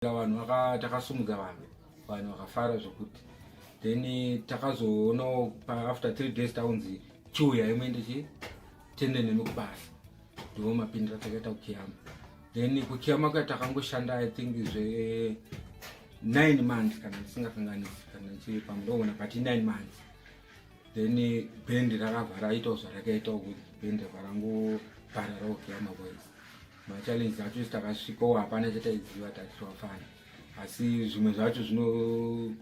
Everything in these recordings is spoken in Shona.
takazoita vanhu takasumudza vanhu vanhu vakafara zvekuti then takazoonawo after three days taunzi chiuya imwe ndichi tende nemi kubasa ndivo mapindira takaita kukiyama then kukiyama kuya takangoshanda i think zve nine months kana ndisingakanganisi kana ndichiri pamudoona but nine months then bendi rakavhara aitawo zvarakaitawo kuti bendi varangovhara raokiyama boys machallenges acho isi takasvikawo hapana chataiziva tatiwafana asi zvimwe zvacho zvinova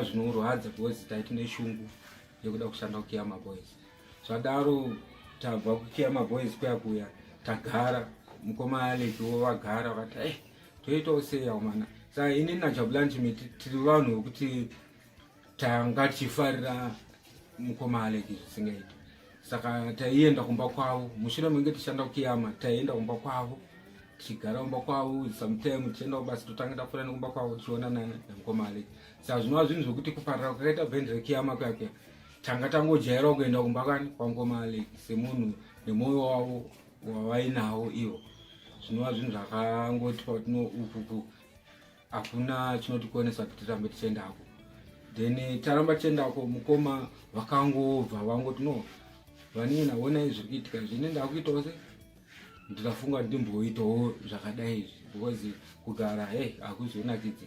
zvinorwadza because taiti neshungu yekuda kushanda kukiyama boys zvadaro tabva kukiyama boys kuya kuya tagara mukoma aleki wo vagara vakati e eh, toitawo seyawo mana sa ini najabulani chimiti tiri vanhu vekuti tanga tichifarira mukoma aleki zvisingaiti saka taienda kumba kwavo mushure menge tichishanda kukiyama taienda kumba kwavo tichigara kumba kwavo sometime tichienda kubasa totanga tafura nekumba kwavo tichionana nemukoma aleki saka zvinova zvinhu zvekuti kuparira kwakaita bhendi rekiyama kwake tanga tangojaira kuenda kumba kani kwamukoma aleki semunhu nemwoyo wavo wavainawo ivo zvinova zvinhu zvakangoti patino upupu hakuna chinotikonesa kuti tirambe tichiendako then taramba tichiendako mukoma vakangobva vangoti no vanini naonai zviri kuitika izvi ini ndakuitawo se ndikafunga ndimboitawo zvakadai izvi because kugara hey hakuzonakidzi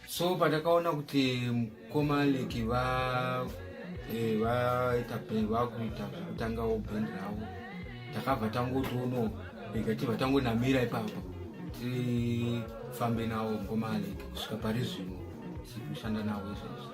so patakaona kuti komaleki va eh, vaita pe vakuita kutangawo band ravo takabva tangotoono rega tibva tangonamira ipapo tifambe nawo komaleki kusvika pari zvino tikushanda nawo izvezvi